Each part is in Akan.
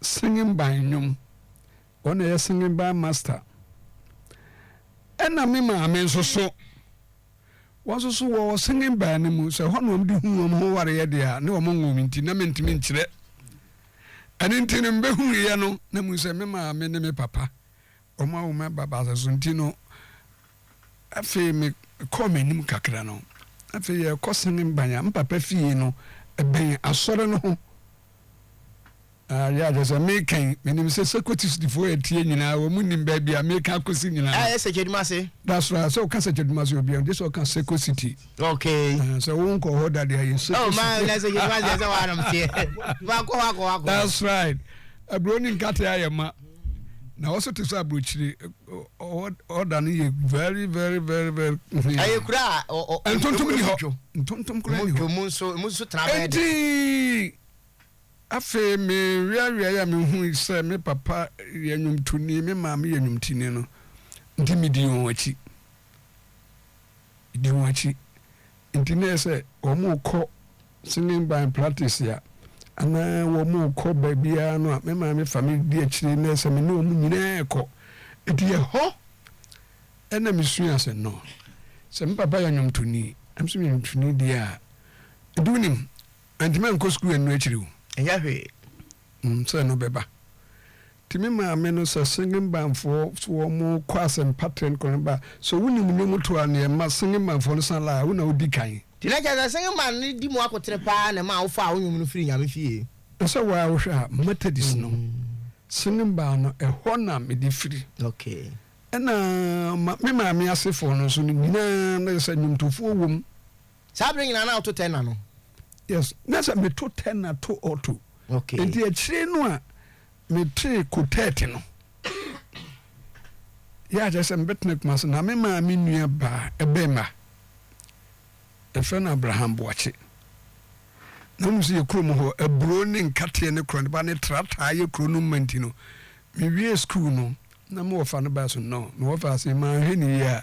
Sengheban nnwom. Wɔn na ɛyɛ Sengheban master. Ɛna me maame nso so. Wɔn nso so wɔ Sengheban no mu. Sɛ ɛhɔ na wɔn de hu wɔn ho wareɛ deɛ a, ne wɔn nwoo me nti na mentumi nkyerɛ. Ɛno nti no, mebɛhuuiɛ no na mehu sɛ me maame ne me papa. Wɔn a wɔn ba baasa so nti no, afei mekɔɔ m'anim kakra no, afei yɛrekɔ San Mban a, me papa fie no bɛn asɔre no ho. Ayɛ akyerɛ sɛ mekan, menim sɛ sɛ Kotisidifoɔ yɛ tie nyinaa, wɔn nim baabi a mekan akɔsi nyinaa. A yɛ Sɛkyɛdumase. That's right, sɛ ɔka Sɛkyɛdumase obiara, gye sɛ ɔka Seko City. Okay. Uh, sɛ wo nkɔ hɔ da deɛ yɛ Seko City. Oh, maa na Sɛkyɛdumase sɛ wɔanom teɛ. Wakɔ, wakɔ, wakɔ. That's right. Aburo ne nkate ayɛ ma. na hɔ so te sɛ aburokyire ɔda no yɛ very very very very clean. ɛyɛ kura a ntontom ni hɔ ntontom kura ni hɔ mu nso mu nso tena bɛyɛ dɛ. eti afei me wiawia yɛ me hu sɛ me papa yɛ nnwomtoni me maame yɛ nnwomtini no nti me di wɔn akyi di wɔn akyi nti na yɛ sɛ wɔn kɔ Singing by practice a, na wɔkɔ baabiara no a, me maame fa me di akyire na sɛ me ne wɔn nyinaa rekɔ. Enti ɛhɔ na mesuaa sɛ no, sɛ me papa yɛ nnwomtoni na me nso meyɛ nnwomtoni deɛ a, ɛnti wonim, mantumi ankɔ sukuu ɛno akyiri o. Ɛnyɛ hwee. Sɛ no bɛba. Nti me maame no sɛ Sengimbanfoɔ so wɔ mo kɔ asɛmpa trend kɔ no ba sɛ wo nim nnwom to a neɛ ma Sengimbanfoɔ no san la a wo na wo di kan. Nti na kyerɛ sɛ Sengimban no di mo akotene paa na ɛmaa wo faa wo nnwom no firi Nyame fie. Na sɛ waa wo hwɛ a Methodist no Sengimban no ɛhɔ na me de firi. Okay. Ɛna ma me maame asefoɔ no nso no nyinaa na kyerɛ sɛ nnwomtofoɔ wɔ mu. Saa bere nyinaa na woto tenor no? Yes, na sɛ meto tenor to alto. Okay. Enti akyire no a metee quartet no, yɛ a kyerɛ sɛ mebɛtena Kumasi, na me maa me nua baa ɛbɛɛma, yɛfrɛ no Abraham Boakye. Na wonim sɛ yɛ kurom hɔ, aburo ne nkateɛ ne korɔneba ne tra taa yɛ kuro no mma nti no, mewiee sukuu no, na mewɔ fa no baa so? No, mewɔ fa ase, manhwɛ no yie a,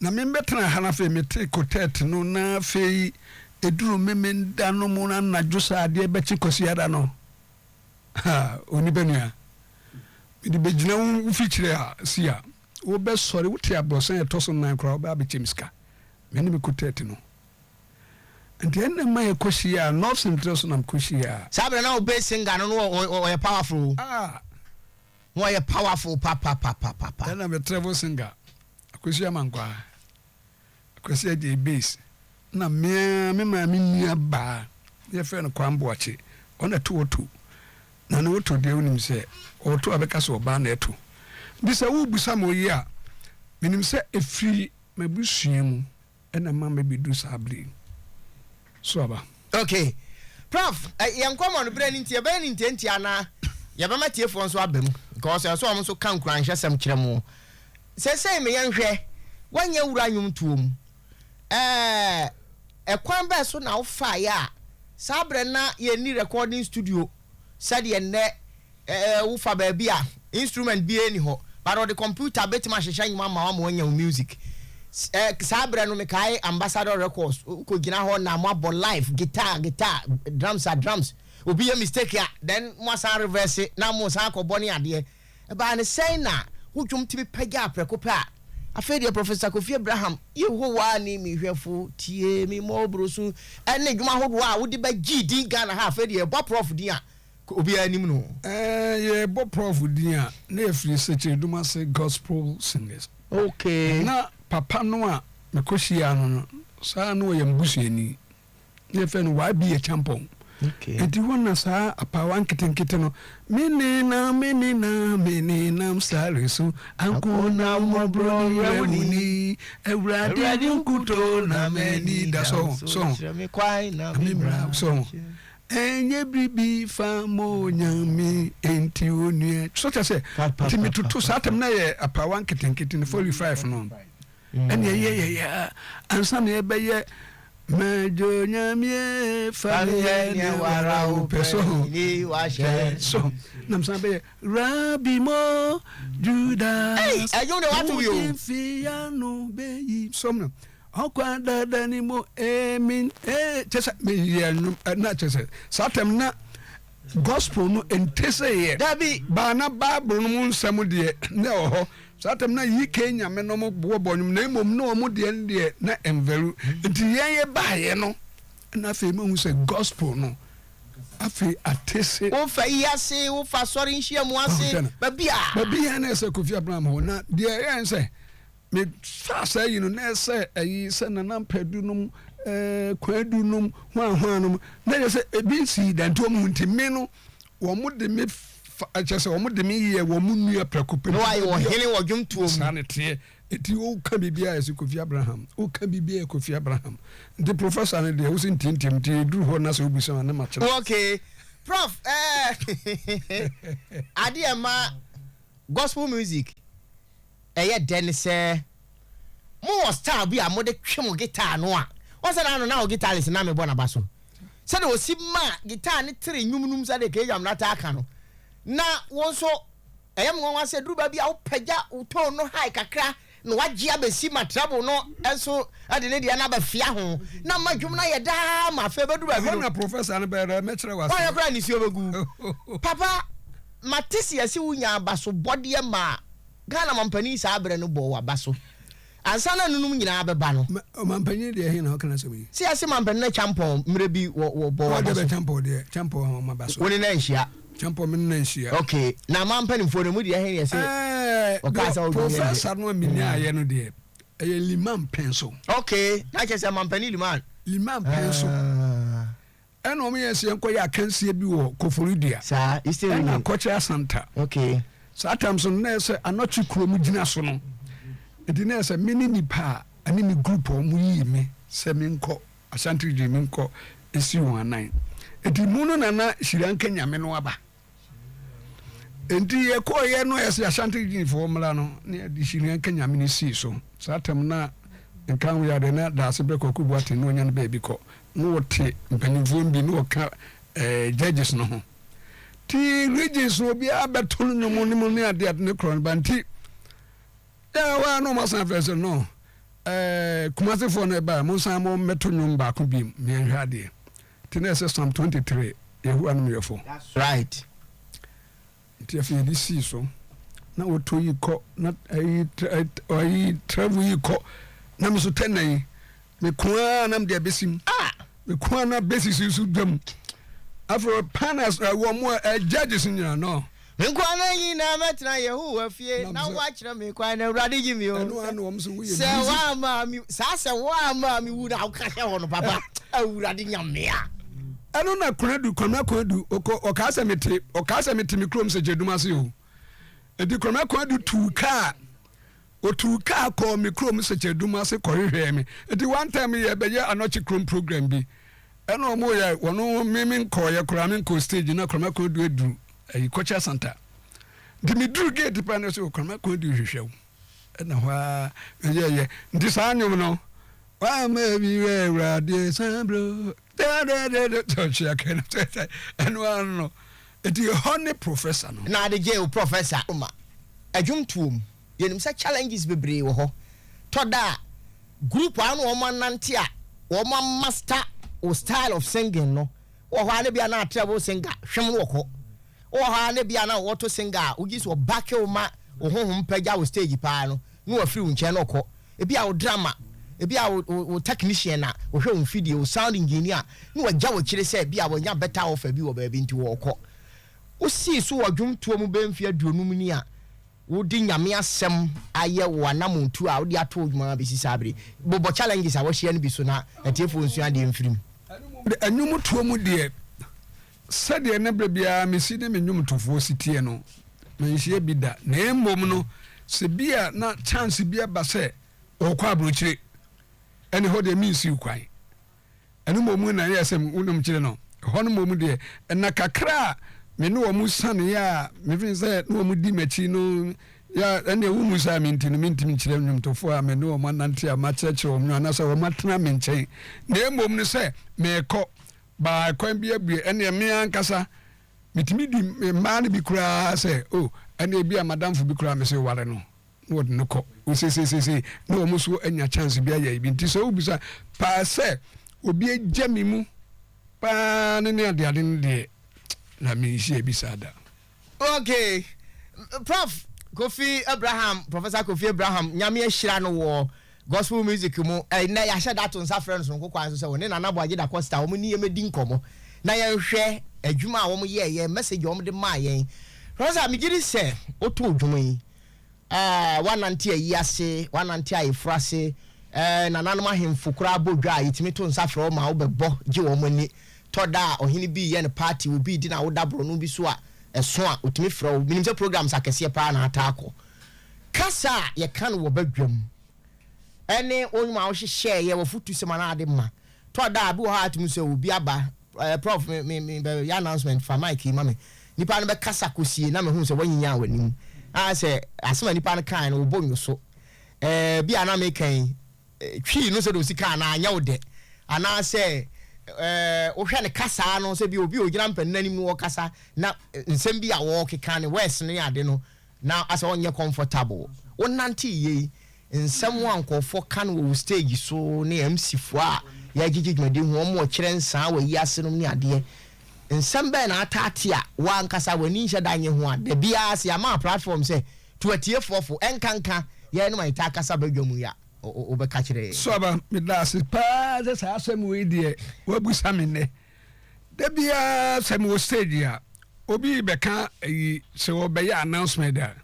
Na me mebɛtena ha no afei mete kotɛt no na afei ɛduru memenda no mu no anadwo sɛ adeɛ bɛkye kwasiada no ha onipa nua mede bɛgyina wo mfikyire a si a wobɛsɔre wote abrɔsan a ɛtɔ so nan koraa wobɛ abɛkyɛm sika me ne me kotɛt no nti ɛnna ma yɛkɔhyia a nɔfs ntrɛ so na mekɔhyia a. Saa berɛ na Obey singer no no ɔyɛ powerful o. Ah. Wɔ yɛ powerful papapapapa. Ɛna me travel singer Akwasi Amankwaa, Akwasi Adjei Bass, na me ara me maame nua baa na yɛfrɛ no Kwame Boakye, ɔna to ɔto, na ne ɔto deɛ wonim sɛ ɔɔto a bɛka sɛ ɔbaa na ɛto. Nti sɛ worebisa me ɔyea a, menim sɛ ɛfiri m'abusua mu. Ɛna ɛma mɛbɛduru saa berɛ yi. So aba? Ok. Prof, yɛn nkɔmmɔ no berɛ no nti, yɛbɛyɛ no ntiantia anaa yɛbɛma atiefoɔ nso aba mu? Because ɛsɛ sɛ wɔn nso ka nkuranhyɛsɛm kyerɛ mo. Seesei me yɛn hwɛ, woanyɛ wura nnwomtoɔ mu ɛɛ, ɛkwan bɛn so na wofaaeɛ a saa berɛ no na yɛnni recording studio? sɛdeɛ nnɛ eh wo fa baabi a instrument biara nni hɔ but ɔde computer bɛtumi ahyehyɛ nwom ama wo ama woanya wo music eh saa berɛ no mekae ambassador records wo kɔ gyina hɔ na mo abɔ live guitar guitar drums a drums obi yɛ mistake a then mo asan reverse na mo san akɔ bɔ ne adeɛ Ɛbaa no sɛn na wo dwom tumi pagyaa prɛko pɛ a? Afei deɛ Professor Kofi Abraham, Yehowa ne me hwɛfo, tie me mmɔboro su, ne nnwom ahodoɔ a wode bɛ gyee din Ghana ha, afei deɛ yɛbɔ Proff din a, ka obiara nim no. Ɛɛ, yɛbɔ Proff din a, na ɛfiri Sekyiredum ase Gospel Singers. Okay. Na papa no a mekɔhyiaa no no, saa na ɔyɛ me busuani. na ɛfɛ no waa bi yɛ kyampɔn nti hɔ na saa apaawa nketenkete no menenam menenam menenam sare so ankona mmɔborɔ werɛ mu ni awurade ne nkuto na m'ani da so so memra so ɛnyɛ biribi fa mo nyame enti onua so kyɛ sɛ nti metoto saa tam na yɛ apaawa nketenkete no 45 no Ɛnneɛ yɛ yɛ yɛ a ansa na yɛbɛyɛ Madwo Nyamie fa me yɛ nea wara wo pɛ so ho ni wahyɛ so nam san bɛyɛ Rabi mo Juda ɛdwom de wato yo fi ya no bɛyi som no ɔkwa dada ni mo emin ee kyɛ sɛ meyɛ nwom na kyɛ sɛ saa tɛm na gospel no nte sɛ yɛ dabi baa na bible no mu nsɛm deɛ na ɛwɔ hɔ Saa tam no nyi Cain nyame nom boɔ bɔnwom na mmom na wɔn deɛ no deɛ na ɛnvaru. Nti yɛn yɛ baeɛ no na afei mahu sɛ gospel no afei ate se. Wo fa yi ase, wo fa asɔre nhyiamu ase, baabi a. Baabi a na ɛyɛ sɛ Kofi Abraham hɔ. Na deɛ ɛyɛɛ ne sɛ me faa saa yi no na ɛyɛ sɛ ayi sɛ Nana Mpadu nom, ɛɛ Kwadu nom, hwaa hwaa nom na ɛyɛ sɛ ebi nsii da nti wɔn nti me no Wɔde me fa, kyerɛ sɛ wɔde me yɛ wɔn nua prɛko pɛ. Na wayɛ ɔhene wɔ dwomtoɔ mu. Saa ne teɛ. Eti woka biribi a ɛsɛ Kofi Abraham. Woka biribi a Kofi Abraham. Nti professor no deɛ wosɛ ntiantiam nti ɛduru hɔ na sɛ wobisa a ne makyerɛ. Oh ok. Prof eh adeɛ ma gospel music. ɛyɛ dɛ ne sɛ mowɔ style bi a mode twe mo guitar no a, wɔn sɛ na ano na wɔ guitarist na mebɔ n'aba so. Sɛdeɛ ɔsi ma guitar no tere nnwom no mu sɛdeɛ K-Jam no ataa ka no, na wo nso ɛyɛ me nwanwa sɛ ɛduru baabi a wopagya wo tone no high kakra na wagye abɛsi ma treble no nso de ne deɛ no aba fia ho na ama dwom no ayɛ daa ma afei bɛduru baabi no. Ɛhɔ na professor no bɛrɛ mɛkyerɛ wase. Wɔyɛ koraa nisuo bɛgu. Papa. Mate seɛ se wo nyaa abaso bɔdeɛ maa Ghana mampanin saa berɛ no bɔɔ wo abaso ansa na anunom nyinaa bɛba no. Ma, ɔmampanin deɛ ɛhe na ɔka n'asɛm yi? Seɛ se mampanin no Kyampɔn mmerɛ bi wɔ, wɔ, bɔɔ wo abaso. Ɔɔ dɛbɛ Kyampɔn deɛ, Kyampɔn hɔn abaso. Wo ne no anhyia? Kyampɔn me ne no anhyia. Ok, na ma mpanimfoɔ no ɛmu deɛ ɛhe na ɛse ɔkaa sɛ ɔdwo yɛn deɛ? Ɛɛ, professor no a menyaaeɛ no deɛ, ɛyɛ Liman Penso. Ok, na kyerɛ sɛ mampanin Liman. Liman Penso. Aah. Ɛna ɔmo yɛn sɛ yɛn kɔ yɛ akansie bi wɔ Koforidua. Saa Eastern Region. Ɛna Kɔkyɛ Asanta. Okay. Saa time so no na yɛ sɛ anɔkye kuro mu gyina so no nti na yɛ sɛ me ne nipa a ɛne me group a ɔmo yii me sɛ me nkɔ Ashanti Region me nkɔ esi wɔn anan nti mu no na na Hyira Nka Nyame no aba. nti yɛkɔɔyɛ no ɛsɛ asante gyinfoɔ mmra no ne yɛde hyinua nka nyame no sii so saa tam no a nka wo yɛade na daase berɛ kɔkɔ bu ate na ɔnya no baabi kɔ na ɔte mpanyimfoɔ no bi na ɔka eh, judges no ho ti regions no obiara bɛto no nnwom no mu ne ade ade ne korɔ no ba nti yɛ hɔ a na ɔmasan afɛ sɛ no eh, kumasefoɔ no ɛbaa monsan mo mmɛto nnwom baako bi meɛnhwɛ adeɛ Nti na ɛsɛ Psalm 23 Yehowa nom yɛfo. That's right. Nti afei yɛde sii so na wɔtɔ yi kɔ na ayi ayi travel yi kɔ na me so tɛnna yi me ko ara na mede abesim ah! me ko ara na besi si so dwam afei panas wɔn a judges nyinaa no. Me nkwa nna nyinaa mɛtena Yehowa fie, na woakyerɛ me kwan, na Awurade gye me o. Sɛ woamma me saa sɛ woamma me wu na woka hyɛ hɔ no papa, Awurade nya me a. Ɛno na Konadu, Kwame Konadu, ɔkɔ ɔkaa sɛ mete ɔkaa sɛ mete me kurom sɛ Gyadum ase o. Enti Kwame Konadu tuu kaa. Otuu kaa kɔɔ me kurom nsekyɛdum ase kɔhwehwɛɛ me. Enti one time yɛrebɛyɛ anɔkye krom program bi, ɛna wɔyɛ wɔn, me menkɔeɛ koraa, menkɔɔ stage, na Kwame Akoadu aduru ayi, Culture Centre. Nti meduru gate pɛ na ɔse, O, Kwame Akoadu rehwehwɛ wo. Ɛna hɔ ara meyɛeɛ. Nti saa nnwom no, Wama me werɛ Awurade san berɛ o. dɛdɛdɛdɛ tɔtwe akɛn no tɛtɛ ɛno ano no eti hɔ ne professor no. na ade gye o professor ma adwom tuo mu yɛnim sɛ challenges bebree wɔ hɔ tɔ da a group a wɔn wɔn anante a wɔn amaster wo style of singing no wɔ hɔ a na bia na atrɛ wo singer hwem no wɔ kɔ wɔ hɔ a na bia na wɔto singer a wogye so ɔbake wo ma wo honhom pagya wo stage paa no na wafiri wo nkyɛn na ɔkɔ Ebia wo drama, ebia wo wo wo technician a ɔhwɛ wo mfidie, wo sound engineer ne wagya wo akyire sɛ ebia wanya better offer bi wɔ baabi nti wɔɔkɔ. Wo sii so wɔ dwomtoɔ mu bɛyɛ mfeɛ aduonum ni a wo de Nyame asɛm ayɛ wo anamɔn tuo a wo de ato wo dwuma mu abɛsi saa bere yi. Bobɔ challenges a wahyia no bi so na atiefoɔ nsua adeɛ mfiri mu. Ɛnwomtoɔ mu deɛ Sɛdeɛ na berɛ biara me si ne me nnwomtofoɔ si teɛ no, manhyia bi da. Na mmom no, sɛ bi a na chance bi aba sɛ ɔrekɔ aburokyire, ɛne hɔ deɛ mensiw kwan. Ɛno mmom na ɛyɛɛ sɛ wo ne mekyerɛ no. Ɛhɔ no mmom deɛ, nna kakra a me ne wɔn saneeɛ a mefee sɛ na wɔn di m'akyi no yɛ a, ɛnneɛ wohu saa me nti no, mentumi nkyerɛ nnwomtofoɔ a me ne wɔn anante a makyerɛkyerɛ wɔn no anaasɛ wɔatena me nkyɛn, na mmom no sɛ merekɔ. By kwan bi abue ɛneɛ me ankasa metumi di mmaa no bi koraa sɛ oh ɛneɛ bi a madamfo bi koraa mese ware no na wɔde no kɔ osesesesei na wɔn so anya chance bi ayɛ bi nti sɛ wobisa paa sɛ obi agya me mu paa ne ne adeade no deɛ na menhyia bi saa da. Ok prof kofi Abraham professor kofi Abraham nyame ahyira no wɔ gospel music mu ɛnɛ yɛahyɛ da to nsa frɛ no sononko kwan so sɛ wɔne nana boagye da costa wɔn ne yɛn mɛdi nkɔmmɔ na yɛnhwɛ adwuma a wɔn yɛɛ yɛn message wɔn de maa yɛn professor megye di sɛ wotoo dwom yi ɛɛ wanante ayi ase wanante ayeforo ase ɛɛ nananom ahemfo koraa bɔ dwa a yɛtumi to nsa frɛ wɔn ma wobɛbɔ gye wɔn ani Tɔ da a ɔhene bi reyɛ ne party wɔ obi redi n'awoda borɔno bi so a, ɛso a, otumi frɛ wo. Minim sɛ programs akɛseɛ paa na ataa kɔ. Kasa a yɛka no wɔ badwam ne wo nnwom a wohyehyɛeɛ, w'afotusɛm anaa ade ma. Tɔ da a, bi wɔ hɔ a atumi sɛ obi aba, eh, Prof, me, me, me, bɛ, yɛ announcement, fa mic yi ma me. Nipa no bɛkasa kɔsie na mehu sɛ woanyinyaa w'anim. Ah, sɛ asɛm a nipa no kaeɛ no, wobɔ nnwo so. Eh, bi a na meka yi, Twii no sɛ dɛ osika anaa annyɛ wo dɛ, anaasɛ wohwɛ no kasaa no sɛ bi obi a ogyina mpanyin anim no ɔkasa na nsɛm bi a ɔɔkeka ne words ne ade no na asɛ ɔnnyɛ comfortable. Wo nantse yie, nsɛm a nkorɔfoɔ ka no wɔ wo stage so ne MC foɔ a yɛagyegye dwumadie ho wɔn ɔkyerɛ nsaa wɔ ayiase nom ne adeɛ Nsɛm bɛn na ataa te a wo ankasa w'ani nhyɛ da nnye ho a da biara sɛ yɛama platform sɛ to atiefoɔ fo nkanka yɛnom a yɛtaa kasa badwa mu yi a wobɛka kyerɛ yɛn? Suaba, meda ase pa ara sɛ saa asɛm wei deɛ woabisa me nnɛ. Da biara sɛ mewɔ stage a, obi rebɛka ayi, sɛ wɔrebɛyɛ announcement a,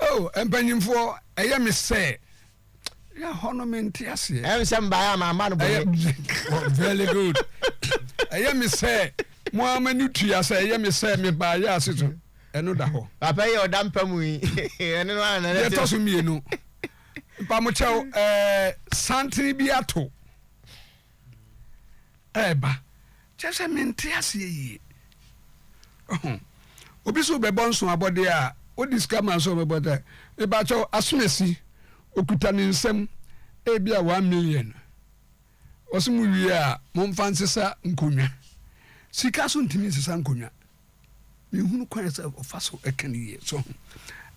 oh, mpanyimfoɔ, ɛyɛ me sɛ na hɔ no mente aseɛ ɛm sɛ mbaeɛ a mamma no bɔne very good ɛyɛ me sɛ mo ama no tua sɛ ɛyɛ me sɛ mebaeɛ ase so ɛno da hɔ papa yi ɔda mpa mu yi ɛne no ana deɛ ɛtɔ so mmienu mpamokyɛw ɛɛ santene bi ato ɛɛba. Kyerɛ sɛ mente aseɛ yie. Ɔho. Obi so bɛbɔ nso abɔdeɛ a, wode sika ma nso ɔbɛbɔ dɛ. Mebakyɛw, asonasi, okuta ne nsam ebi a one million. Ɔse mo wie a, momfa nsesa nkonnwa. Sika so ntumi nsesa nkonnwa. Menhunu kwan sɛ ɔfa so ka no yie. So ho?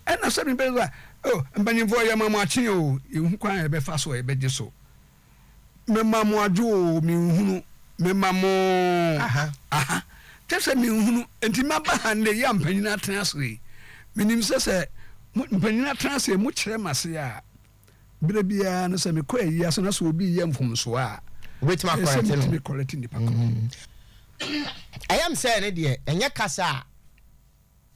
Ɛna sɛ mebɛyɛ sɛ, oh, mpanyimfoɔ, yɛma mo akye o, yɛnhu kwan a yɛbɛfa so a yɛbɛgye so. Mema mo adwo o, menhunu. Mema mo aha, aha, kyɛ sɛ menhunu. Enti maba ha nnɛ yi a mpanyin atena ase yi, menim sɛ sɛ mpanyin atena ase, mokyerɛ m'ase a. Bere biara no, sɛ mekɔ ayi ase na sɛ obi yɛ mfomso a, wobɛtumi akɔrɛte no. kɔrɛte nipa ko. Mm. Ɛyɛ m sɛ ne deɛ ɛnyɛ kasa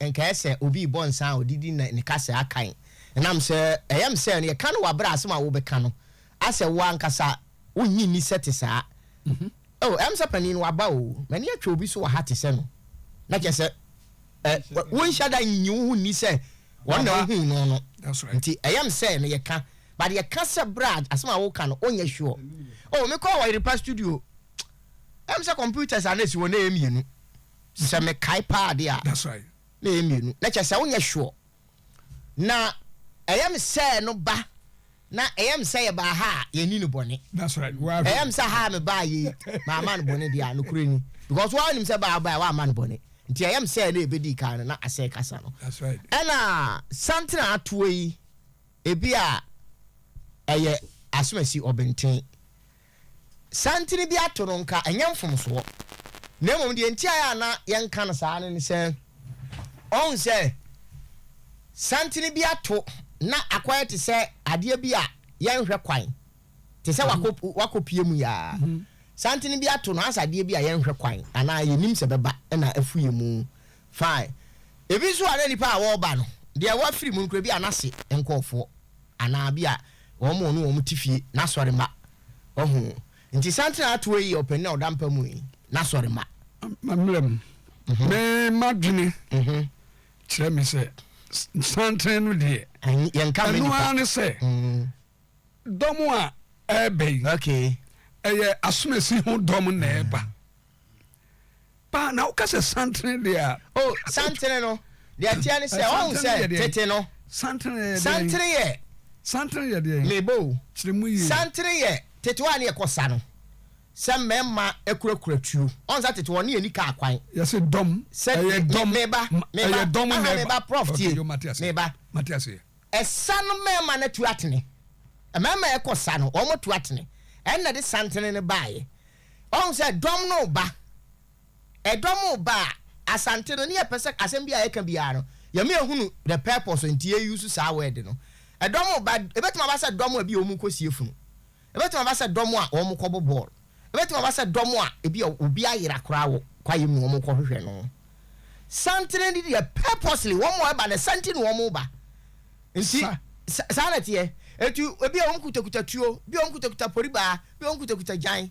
a nka ɛyɛ sɛ obi rebɔ nsa a ɔde di ne kasa akan. Ɛnam sɛ ɛyɛ m sɛ no yɛka no wabrɛ asɛm a wobɛka no asɛ wo ankasa wonnye nni sɛ te saa. Mhm. Oh, ɛm sɛ panin no waba o, m'ani atwa obi so wɔ ha te sɛ no. Na kyɛ sɛ Ɛ, wonhyɛ da nnye wo ho nni sɛ wɔn na wohuu no no. Nti ɛyɛ me sɛ meyɛ ka. But yɛka sɛ bra a, asɛm a woka no, wonyɛ sure. Oh, mekɔɔ Wɔyerepa studio, ɛyɛ me sɛ computers a na ɛsi hɔ no, na ɛyɛ mmienu. Sɛ mekae paa de a, na ɛyɛ mmienu. Na kyerɛ sɛ wonyɛ sure. Na ɛyɛ me sɛ no ba na ɛyɛ me sɛ yɛbaa ha a yɛni no bɔne. Ɛyɛ me sɛ ha a mebaa yi maama no bɔne deɛ a nokorɛ ni. Because woa nim sɛ baa baa woama no bɔne. Nti ɛyɛ me sɛ na yɛbɛdii kan no na asɛe kasa no. Ɛna Santena atoɔ yi ebi a ɛyɛ asomasi ɔbenten. santene bi ato no nka ɛnyɛ mfomsoɔ, na mmom deɛ nti a na yɛnka no saa no ne sɛ, ɔhu sɛ santene bi ato na akɔyɛ te sɛ adeɛ bi a yɛnhwɛ kwan, te sɛ wakɔpie mu yaa. Santene bi ato no ansa adeɛ bi a yɛnhwɛ kwan anaa yɛnim sɛ bɛba na afu yɛ mu Fae. Ebi nso a na nnipa a wɔreba no deɛ wɔafiri mu no koraa bi a n'ase nkurɔfoɔ anaa bi a wɔn a ɔne wɔn te fie, n'asɔremma. Wahu? Nti Santene Atoa yi yɛ ɔpanin a ɔda mpa mu yi n'asɔremma. Mmra mu. Me m'adwene kyerɛ me sɛ Santene no deɛ, ɛno ara ne sɛ Dɔm a ɛreba yi, ɛyɛ asomasi ho dɔm na ɛreba. Mm. Paa na woka sɛ santene deɛ a. O oh, santene no deɛ ɛteɛ ne sɛ eh, ɔhu sɛ tete no. Santene yɛ deɛ. Santene yɛ. Santene yɛ deɛ. Mebo. Kyerɛ mu yie. Santene yɛ tete hɔ a ne yɛkɔ sa no sɛ mmarima akurakura tuo ɔn sɛ tete wɔn ne yɛni kaa kwan. yɛsɛ dɔm ɛyɛ dɔm meba meba aha meba prof tie meba. Ɛsa no mmarima no atu atene. Mmarima a ɛkɔ sa no, wɔatu atene. Ɛno na ɛde santene no baeɛ. Wahu sɛ dɔm no reba. Ɛdɔm reba a, Asante no, ne yɛpɛ sɛ asɛm bi a yɛka biara no, yɛma yɛhunu the purpose nti yɛ use saa word no. Ɛdɔm reba, ɛbɛtumi aba sɛ dɔm a bi a wɔrekɔsie funu. Ebetumi aba sɛ dɔm a wɔkɔbɔ bɔɔl. Ebetumi aba sɛ dɔm a ebia obi ayera koraa wɔ kwae mu na wɔkɔhwehwɛ no. Santen de deɛ purposely wɔn a ɛba no santen na wɔba. Nti sa saa na ɛteɛ. Enti ebia wɔn kutakuta tuo, ebia wɔn kutakuta poribaa, ebia wɔn kutakuta gyan,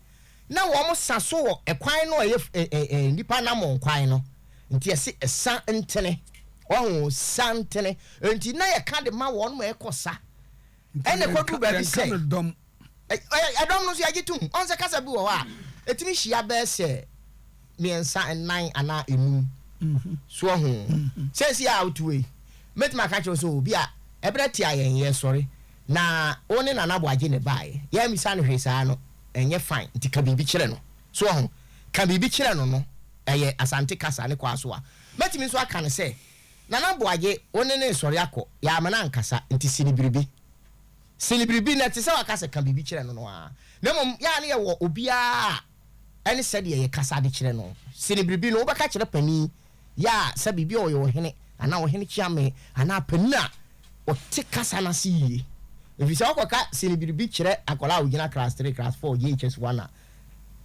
na wɔn sa so wɔ ɛkwan no a ɛyɛ ɛ ɛ ɛ nnipa anammɔn kwan no. Nti yɛse sa ntene. Wahu? Sa ntene. Enti na yɛka de ma wɔn ma ɛkɔ sa. Ɛna ɛkɔduru baabi sɛ, ɛdɔm no nso yɛgye tom. Ɔhu sɛ kasa bi wɔ hɔ a, ɛtumi hyia bɛyɛ sɛ mmiɛnsa, nnan anaa nnum. So ɔho? Seesei a wote wei, mɛtumi aka kyerɛ wo sɛ, obi a ɛberɛ tia yɛn, yɛsɔre, na wo ne Nana Boagye na ɛbaeɛ. Yɛammisa no hwee saa no, ɛnyɛ fine. Nti ka biribi kyerɛ no. So ɔho? Ka biribi kyerɛ no no, ɛyɛ Asante kasa ne Kwaso a. Mɛtumi nso aka no sɛ, Nana Boagye, wo ne no nsɔre akɔ, yɛamma no ankasa, nti si no biribi. Si no biribi, na ɛte sɛ waka sɛ ka biribi kyerɛ no no ara, na mmom yɛ a na yɛwɔ obiara a ɛne sɛdeɛ yɛkasa de kyerɛ no. Si no biribi no, wobɛka kyerɛ panin, yɛ a sɛ biribi a ɔyɛ ɔhene, anaa ɔhene kyeame, anaa panin a ɔte kasa no ase yie. Ɛfiri sɛ wokɔka si no biribi kyerɛ akwadaa a ɔgyina class three, class four, JHS one a,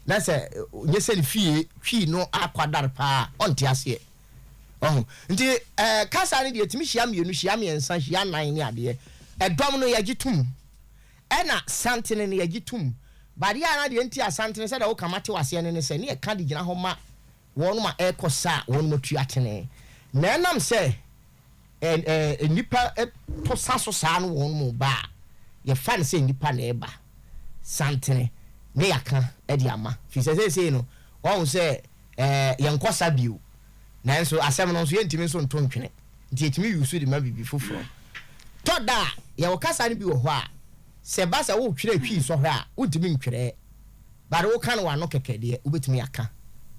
na sɛ nyɛ sɛ ne fie twi no akwadare pa ara a, ɔnte aseɛ. Wahu? Nti, ɛɛ, kasa no deɛ, ɛtumi hyia mmienu, hyia mmiɛnsa, hyia nnan ne adeɛ. Ɛdɔm no, yɛgye tom. Ɛna santene no, yɛgye tom. But adeɛ a na deɛ nti a santene, sɛdeɛ woka ma te wo aseɛ no ne sɛ, ne yɛka de gyina hɔ ma wɔnom a ɛrekɔ sa a wɔnom atu atene. Na ɛnam sɛ Ɛ ɛ nnipa to sa so saa no wɔn mu ba a, yɛfa no sɛ nnipa na ɛreba santene na yɛaka de ama. Firi sɛ seesei no, wɔahu sɛ ɛ yɛnkɔ sa bio. Nanso asɛm no nso, yɛntumi nso nto ntwene. Nti yɛtumi use de ma biribi foforɔ. Tɔ da a, yɛwɔ kasa no bi wɔ hɔ a, sɛ ɛba sɛ woretwerɛ Twi sɔhwɛ a, wontumi ntwerɛ. Bare woka no w'ano kɛkɛ deɛ, wobɛtumi aka.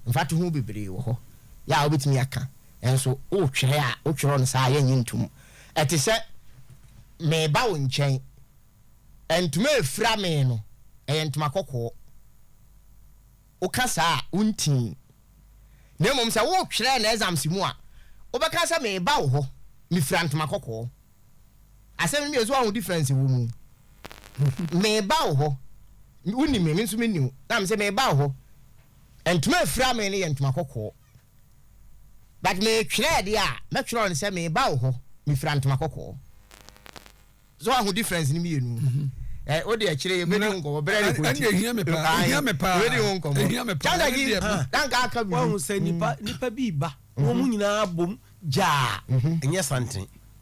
Mfatoho bebree wɔ hɔ. Yɛ a wobɛtumi aka. Nanso wotwerɛ a, wotwerɛ no saa a, yɛnnye ntom. Ɛte sɛ mereba wo nkyɛn. Ntoma a ɛfira me no, ɛyɛ ntoma kɔkɔɔ. Woka saa a, wontii. Na mmom sɛ wotwerɛ no exams mu a, wobɛka sɛ mereba wo hɔ, mefira ntoma kɔkɔɔ. Asɛm no mmienu, so woahu difference wɔ mu? Mereba wo hɔ, wonim me, me nso menni wo. Na mese mereba wo hɔ, ntoma a ɛfira me no yɛ ntoma kɔkɔɔ. But metwerɛɛ deɛ a, mɛtwerɛ no sɛ meba wo hɔ, mefira ntoma kɔkɔɔ. So wahu difference no mmienu? Ɛ o deɛ akyire yɛbɛdi ho nkɔmmɔ berɛ ne kɔnti. Ɛnna ehia me paa, ehia me paa, yɛbɛdi ho nkɔmmɔ. Ehia me paa, Kyanda gi, danka aka bibi. Wahu sɛ nipa nipa bi ba, wɔn nyinaa bom gyaa, ɛnyɛ santene.